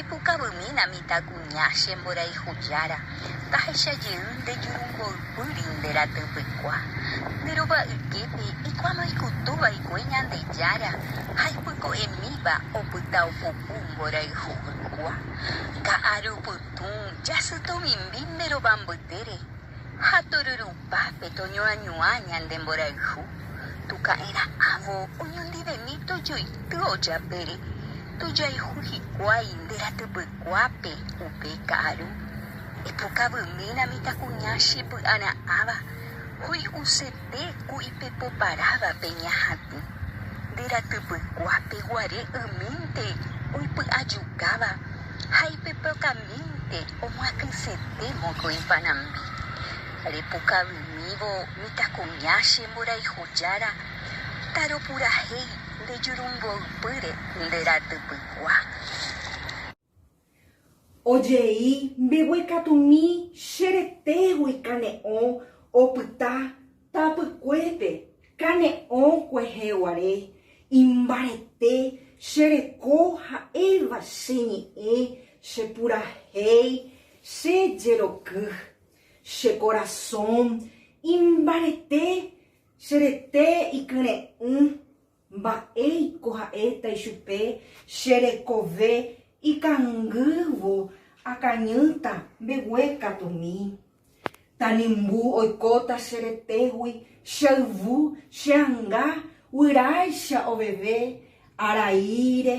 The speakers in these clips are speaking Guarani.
Epukavymína mitãkuña, che mborayhu jára, tahecha jey nde jurumboypýri nde ratỹpykua. Nde rova yképe ikuáma ikutu vaikue Ñandejára ha ipyko'emíva opyta opupu mborayhu ykua. Ka'arupytũ, jasy tomimbi nde rova mbytére. Ha tururupápe toñoañuã ñande mborayhu, tuka'erã avo oñondivemi tojoity ojapére, tojayhu hikuái nde ratypykuápe upe ka'aru. Epokavymi la mitãkuña chepy'ara'ãva, hoy'use. Pe ku ipepo parávape ñahatĩ, nde ratypykuápe guare ymínte oipy'ajukáva ha ipepyakãmínte omyatysete mokõi panambi. Repukavymívo mitãkuña che mborayhu jára, taropurahéi nde jurumboypýre nde ratypykua. Ojei mbeguekatumi che retégui kane'õ opyta tapykuépe, kane'õ kuehe guare, imbarete che reko ha'éva che ñe'ẽ che purahéi che jeroky, che korasõ imbarete che rete ikyre'ỹ. Mba'éiko ha'éta ichupe, Che rekove ikangývo akañýta mbegue katumi. Tanimbu oikóta che retégui, che yvu, che anga, guyráicha oveve, araíre,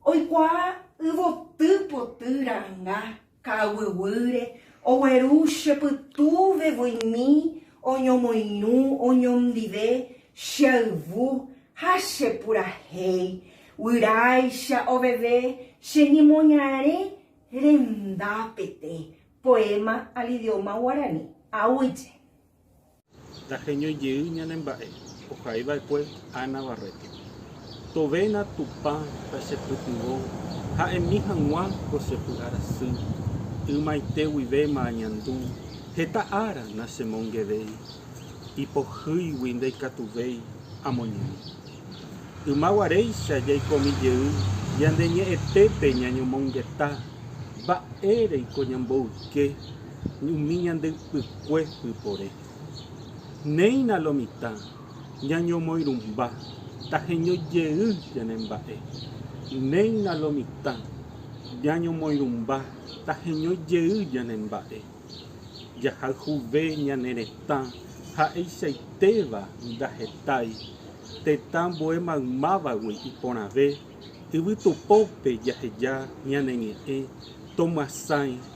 oikuaa yvoty poty ra'anga, Ka'aguyguyre, ogueru che pytúve voimi oñomoirũ oñondive che ayvu ha che purahéi, guyráicha oveve che ñemoñare rendápete. Poema al idioma guarani, Awyje. Ndaheñói jey ñane mba'e, ohai va'ekue Ana Barreto. Tovéna Tupã tachepytyvõ ha emi hag̃ua ko chepy'ara sy, ymaite guivéma añandu, heta ára nachemongevéi, ipohýigui ndaikatuvéi amoñe'ẽ. Yma guaréicha jaikomi jey yande ñe'ẽtépe ñañomongeta mba'ére iko ñamboyke. umi ñande ypykue pypore. Néina lo mitã ñañomoirũmba taheño jey ñane mba'e. Néina lo mitã ñañomoirũmba taheño jey ñane mba'e. Jahayhuve ñane retã ha'eichaitéva ndahetái, tetã ambue maymávagui iporãve, yvytupópe jaheja ñane ñe'ẽ, tomyasãi,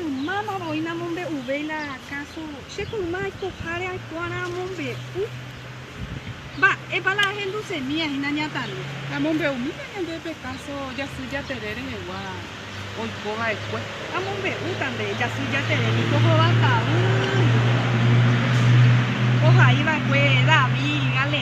Ymáma voi namombe'uvéi la káso che mayma aikoháre aikuaárã amombe'u? Mba'épa la ahendusemi ahína nañatande? Amombe'umína ñande pe káso Jasy Jatere rehegua oiko va'ekue. Amombe'úta nde Jasy Jatere niko hova ta'ýi ohai va'ekue David, Galead.